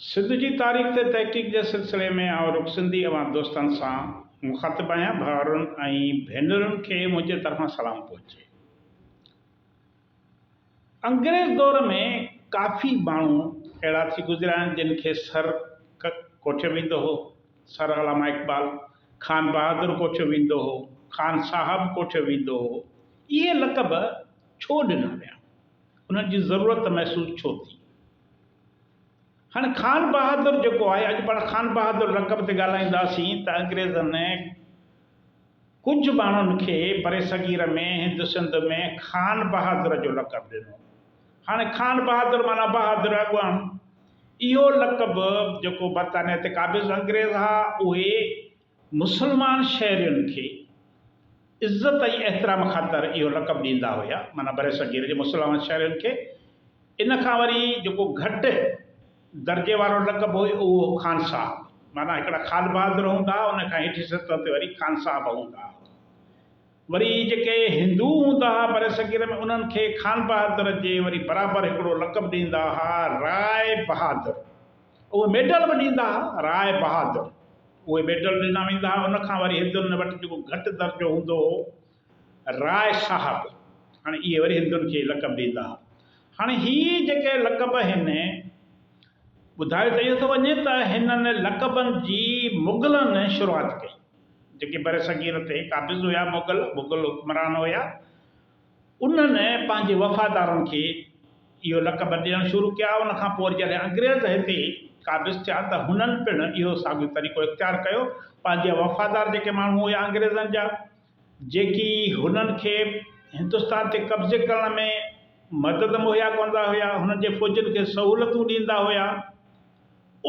سنڌ جي تاريخ تي تحقيق جي سلسلي ۾ آئون رڳو سنڌي عوام دوستن سان مخاطب آهيان، ڀائرن ۽ ڀينرن کي منهنجي طرفان سلام پهچي. انگريز دور ۾ ڪافي ماڻهو اهڙا ٿي گذريا آهن جن کي سر ڪوٺيو ويندو هو، سر علامه اقبال، خان بهادر ڪوٺيو ويندو هو، خان صاحب ڪوٺيو ويندو هو، اهي لقب ڇو ڏنا ويا؟ انهن جي ضرورت محسوس ڇو ٿي؟ هاڻي خان بهادر جيڪو آهي، اڄ پاڻ خان بهادر لقب تي ڳالهائينداسين ته انگريزن ڪجهه ماڻهن کي برصغير ۾ هند سنڌ ۾ خان بهادر جو لقب ڏنو. هاڻي خان بهادر معنيٰ بهادر اڳواڻ. اهو لقب جيڪو برطانيه تي قابض انگريز ها، اهي مسلمان شهرين کي عزت ۽ احترام خاطر اهو لقب ڏيندا هيا، معنيٰ برصغير جي مسلمان شهرين کي ان کان وري جيڪو گهٽ درجي وارو لقب هو اهو هو خانصاحب، معنيٰ هڪڙا خان بهادر هوندا هئا، ان کان هيٺين سطح تي وري خانصاحب هوندا هئا. وري جيڪي هندو هوندا هئا برصغير ۾ انهن کي خانبهادر جي وري برابر هڪڙو لقب ڏيندا هئا رائي بهادر. اهي ميڊل به ڏيندا ها راء بهادر اهي ميڊل ڏنا ويندا ها ان کان وري هندن وٽ جيڪو گهٽ درجو هوندو هو راء صاحب هاڻي اهي وري هندن کي لقب ڏيندا ها هاڻي هي جيڪي لقب هن ٻڌايو ته اهو ٿو وڃي ته هنن لقبن جي مغلن شروعات ڪئي جيڪي برصغير تي قابض هيا مغل مغل حڪمران هيا انهن پنهنجي وفادارن کي اهو لقب ڏيڻ شروع ڪيا. ان کان پوء جڏهن انگريز هتي قابض ٿيا ته هنن پڻ اهو ساڳيو طريقو اختيار ڪيو. پنهنجا وفادار جيڪي ماڻهو هيا انگريزن جا جيڪي هنن کي هندستان تي قبضي ڪرڻ ۾ مدد مهيا ڪندا هيا، هنن جي فوجين کي سهولتون ڏيندا هيا،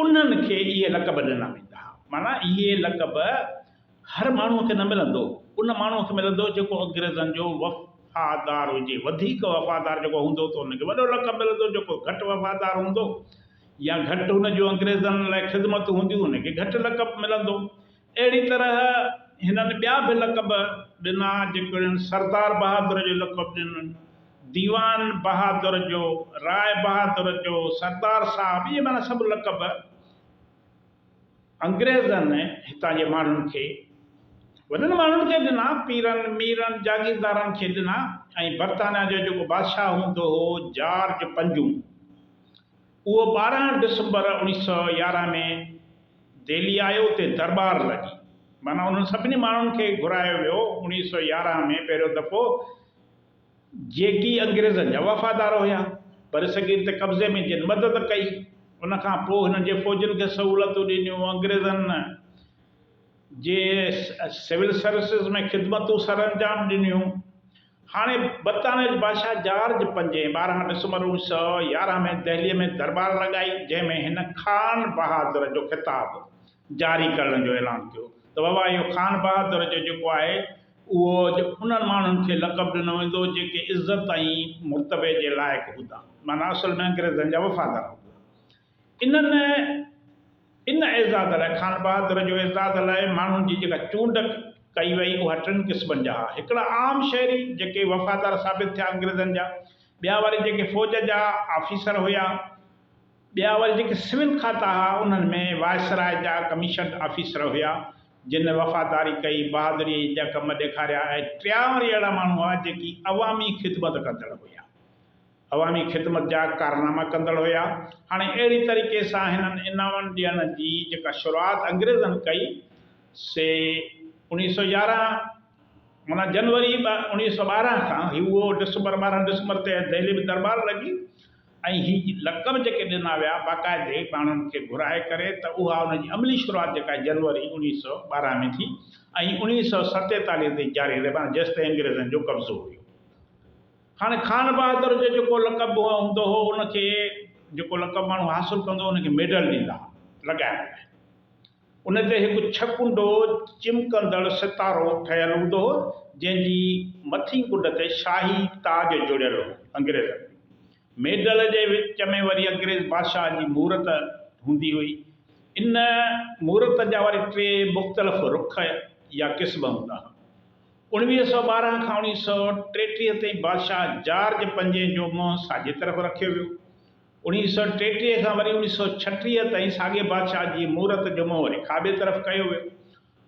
انهن کي اهي لقب ڏنا ويندا هئا. معنيٰ اهي لقب. هر ماڻهوء کي نه ملندو، ان ماڻهوء کي ملندو جيڪو انگريزن جو وفادار هجي، وڌيڪ وفادار جيڪو هوندو ته ان کي وڏو لقب ملندو، جيڪو گهٽ وفادار هوندو يا گهٽ هن جون انگريزن لاء خدمتون هونديون ان کي گهٽ لقب ملندو. اهڙي طرح هنن ٻيا به لقب ڏنا جيڪو هنن سردار بهادر جو لقب ڏنن، ديوان بهادر جو، راء بهادر جو، سردار صاحب اهي معنيٰ سڀ لقب. انگريزن هتان جي ماڻهن کي، وڏن ماڻهن کي ڏنا، پيرن، ميرن، جاگيردارن کي ڏنا ۽ برطانيا جو جيڪو بادشاهه هوندو هو جارج پنجون، اهو ٻارهن ڊسمبر اوڻيهه سؤ يارهن ۾ دهلي آيو، اتي درٻار لڳي، معنيٰ انهن سڀني ماڻهن کي گهرايو ويو، اوڻيهه سؤ يارهن ۾ پهريون دفعو. جيڪي انگريزن جا وفادار هيا. برصغير تي قبضي ۾ جن مدد ڪئي، ان کان پوء هنن جي فوجن کي سهولتون ڏنيون، انگريزن جي سول سروسز ۾ خدمتون سرانجام ڏنيون. هاڻي برطانيا جي بادشاهه جارج پنجين ٻارهن ڊسمبر اوڻيهه سؤ يارهن ۾ دهليء ۾ درٻار لڳائي، جنهن ۾ هن خان بهادر جو خطاب جاري ڪرڻ جو اعلان ڪيو ته بابا اهو خان بهادر جو جيڪو آهي، اهو اڄ انهن ماڻهن کي لقب ڏنو ويندو جيڪي عزت ۽ مرتبي جي لائق هوندا معنيٰ اصل ۾ انگريزن جا وفادار هوندا. انهن ان اعزاز لاء خان بهادر جو اعزاز لاء ماڻهن جي جيڪا چونڊ ڪئي وئي اها ٽن قسمن جا ها هڪڙا عام شهري جيڪي وفادار ثابت ٿيا انگريزن جا ٻيا وري جيڪي فوج جا آفيسر هيا ٻيا وري جيڪي سول کاتا ھئا انھن ۾ وائسراء جا ڪميشنڊ آفيسر ھيا جن وفاداري ڪئي، بھادريء جا ڪم ڏيکاريا ۽ ٽيا وري اھڙا ماڻھو ھئا جيڪي عوامي خدمت ڪندڙ ھيا. عوامي خدمت جا ڪارناما ڪندڙ ھيا. ھاڻي اھڙي طريقي سان ھنن انعامن ڏيڻ جي جيڪا شروعات انگريزن ڪئي سي اوڻيھھ سؤ يارنھن معنيٰ جنوري اوڻيھھ سؤ ٻارنھن کان ھئي. اھو ڊسمبر ٻارنھن ڊسمبر تي دهلي ۾ درٻار لڳي. ۽ هي لقب جيڪي ڏنا ويا باقاعدي ماڻهن کي گهرائي ڪري ته اها ان جي عملي شروعات جيڪا جنوري اوڻيهه سؤ ٻارهن ۾ ٿي ۽ اوڻيهه سؤ ستيتاليهه تائين جاري رهي معنيٰ جيستائين انگريزن جو قبضو هيو. هاڻي خان بهادر جو جيڪو لقب به هوندو هو ان کي جيڪو لقب ماڻهو حاصل ڪندو هو ان کي ميڊل ڏيندا هئا لڳائڻ لاء. ان تي هڪ ڇهه ڪنڊو چمڪندڙ ستارو ٺهيل هوندو هو، جنهن جي مٿين ڪنڊ تي شاهي تاج جڙيل هو. انگريزن ۾ ميڊل جي وچ ۾ وري انگريز بادشاهن جي مورت هوندي هئي. ان مورت جا وري ٽي مختلف رخ يا قسم هوندا هئا. اوڻويهه سؤ ٻارهن کان اوڻيهه سؤ ٽيٽيهه تائين بادشاهه جارج پنجين جو منهن ساڄي طرف رکيو ويو. اوڻيھ سؤ ٽيٽيهه کان وري اوڻيھ سؤ ڇٽيهه تائين ساڳئي بادشاهه جي مورت جو منهن وري کاٻي طرف ڪيو ويو.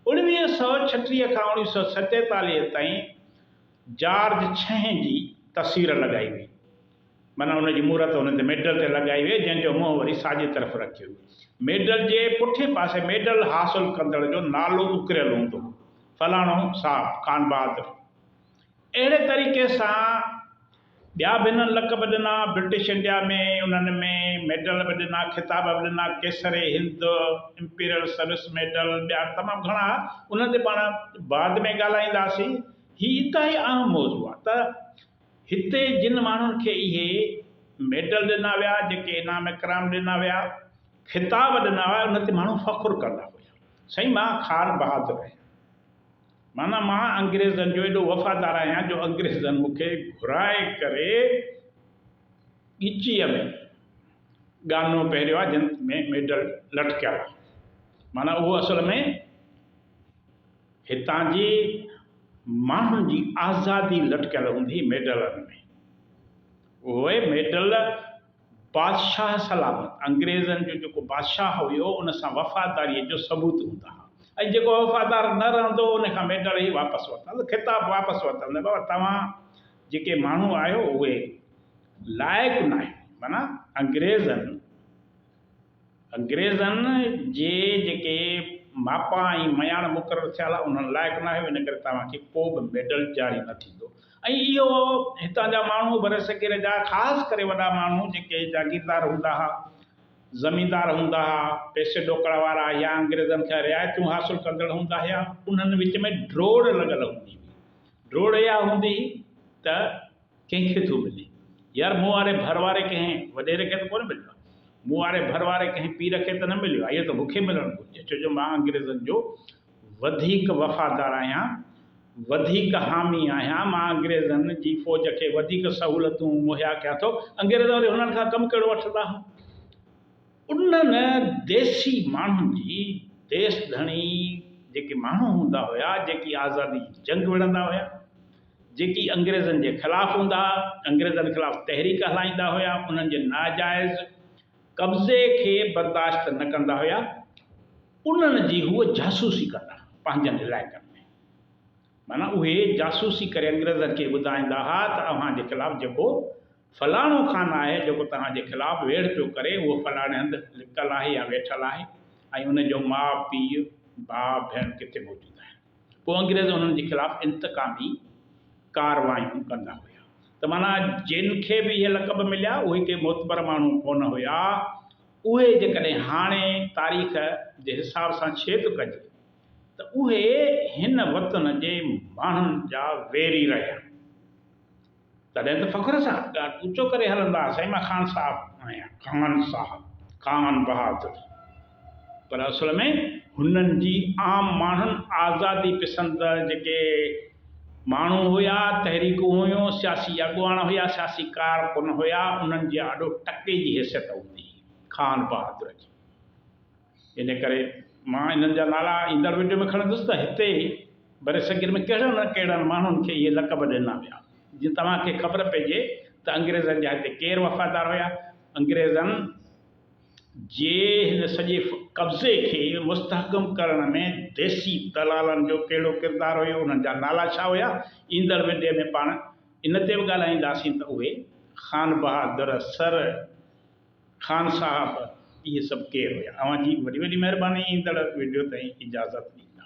اوڻيھ سؤ ڇٽيهه کان اوڻيھ سؤ ستيتاليهه تائين جارج ڇهين جي تصوير لڳائي وئي. معنيٰ ان جي مورت ان تي ميڊل تي لڳائي وئي جنهن جو منهن وري ساڄي طرف رکيو ويو. ميڊل جي پٺئين پاسي ميڊل حاصل ڪندڙ جو نالو اڪريل هوندو هو، فلاڻو صاحب خان بهادر. اهڙي طريقي سان ٻيا به هنن لقب ڏنا، برٽش انڊيا ۾ انهن ۾ ميڊل به ڏنا، خطاب به ڏنا، قيصر هند، امپيرل سروس ميڊل، ٻيا تمام گهڻا هئا، انهن تي پاڻ بعد ۾ ڳالهائينداسين. هي انتهائي اهم موضوع آهي ته هتي جن ماڻهن کي اهي ميڊل ڏنا ويا، جيڪي انعام اڪرام ڏنا ويا، خطاب ڏنا ويا، انهن تي ماڻهو فخر ڪندا هيا. سائين مان خان بهادر آهيان. معنيٰ مان انگريزن جو ايڏو وفادار آهيان جو انگريزن مون کي گهرائي ڪري ڳچيء ۾ ڳانو پهريو آهي جنھن ۾ ميڊل لٽڪيل آهي. معنيٰ اهو اصل ۾ هتان جي ماڻهن جي آزادي لٽڪيل هوندي ميڊلن ۾. اهي ميڊل بادشاهه سلامت انگريزن جو جيڪو بادشاهه هيو ان سان وفاداريء جو ثبوت هوندا ها ۽ جيڪو وفادار نه رهندو هو ان کان ميڊل ئي واپس ورتل خطاب واپس ورتل بابا توهان جيڪي ماڻهو آهيو اهي لائق ناهيو معنيٰ انگريزن انگريزن جي جيڪي ماپا ۽ مياڻ مقرر ٿيا ھئا انھن لائق ناھي ان ڪري توھان کي ڪو به ميڊل جاري نه ٿيندو ۽ اھو ھتان جا ماڻھو برصغير جا خاص ڪري وڏا ماڻھو جيڪي جاگيردار ھوندا ھئا زميندار ھوندا ھئا پئسي ڏوڪڙ وارا يا انگريزن کان رعايتون حاصل ڪندڙ ھوندا ھئا انھن وچ ۾ ڊوڙ لڳل ھوندي ھئي ڊوڙ اھا ھوندي ھئي ته ڪنهن کي ٿو ملين؟ يار مون واري ڀر واري ڪنهن وڏيري کي ته ڪونه مليو آهي. مون واري ڀر واري ڪنهن پير کي ته نه مليو آهي. اهو ته مونکي ملڻ گهرجي ڇو جو مان انگريزن جو وڌيڪ وفادار آهيان، وڌيڪ حامي آهيان. مان انگريزن جي فوج کي وڌيڪ سهولتون مهيا ڪيان ٿو. انگريز وري هنن کان ڪم ڪهڙو وٺندا هون؟ انهن ديسي ماڻهن جي ديس ڌڻي جيڪي ماڻهو هوندا هيا، جيڪي آزادي جي جنگ وڙهندا هيا، جيڪي انگريزن جي خلاف هوندا، انگريزن خلاف تحريڪ هلائيندا هيا، انهن جي ناجائز قبضي کي برداشت نه ڪندا هيا، انهن جي هو جاسوسي ڪندا پنهنجن علائقن ۾، معنيٰ اهي جاسوسي ڪري انگريزن کي ٻڌائيندا ها ته اوهان جي خلاف جيڪو فلاڻو خان آهي جيڪو توهان جي خلاف ويڙهه پيو ڪري، اهو فلاڻي هنڌ لڪل آهي يا ويٺل آهي ۽ ان جو ماء، پيء، ڀاء، ڀيڻ ڪٿي موجود آهن. پوء انگريز انهن جي خلاف انتقامي ڪارروايون ڪندا هيا ته معنيٰ جن کي به اهي لقب مليا اهي ڪي معتبر ماڻهو ڪونه هيا. اهي جيڪڏهن هاڻي تاريخ جي حساب سان ڇيڪ ڪجي ته اهي هن وطن جي ماڻهن جا ويري رهيا. تڏهن ته فخر سان ڳاٽ اوچو ڪري هلندا سائين مان خان صاحب آهيان خان صاحب خان بهادر پر اصل ۾ هنن جي عام ماڻهن آزادي پسند جيڪي ماڻهو هيا تحريڪون هيون سياسي اڳواڻ هيا سياسي ڪارڪن هيا انهن جي آڏو ٽڪي جي حيثيت هوندي هئي خان بهادر جي ان ڪري مان انهن جا نالا ايندڙ وڊيو ۾ کڻندس ته هتي برصغير ۾ ڪهڙن نه ڪهڙن ماڻهن کي اهي لقب ڏنا ويا. جيئن توهان کي خبر پئجي ته انگريزن جا هتي ڪير وفادار هيا. انگريزن جي هن سڄي قبضي کي مستحڪم ڪرڻ ۾ ديسي دلالن جو ڪهڙو ڪردار هيو، انهن جا نالا ڇا هيا، ايندڙ وڊيو ۾ پاڻ ان تي به ڳالهائينداسين ته اهي خانبهادر سر، خان صاحب اهي سڀ ڪير هيا. اوهان جي وڏي وڏي مهرباني ايندڙ وڊيو تائين اجازت ڏيندا.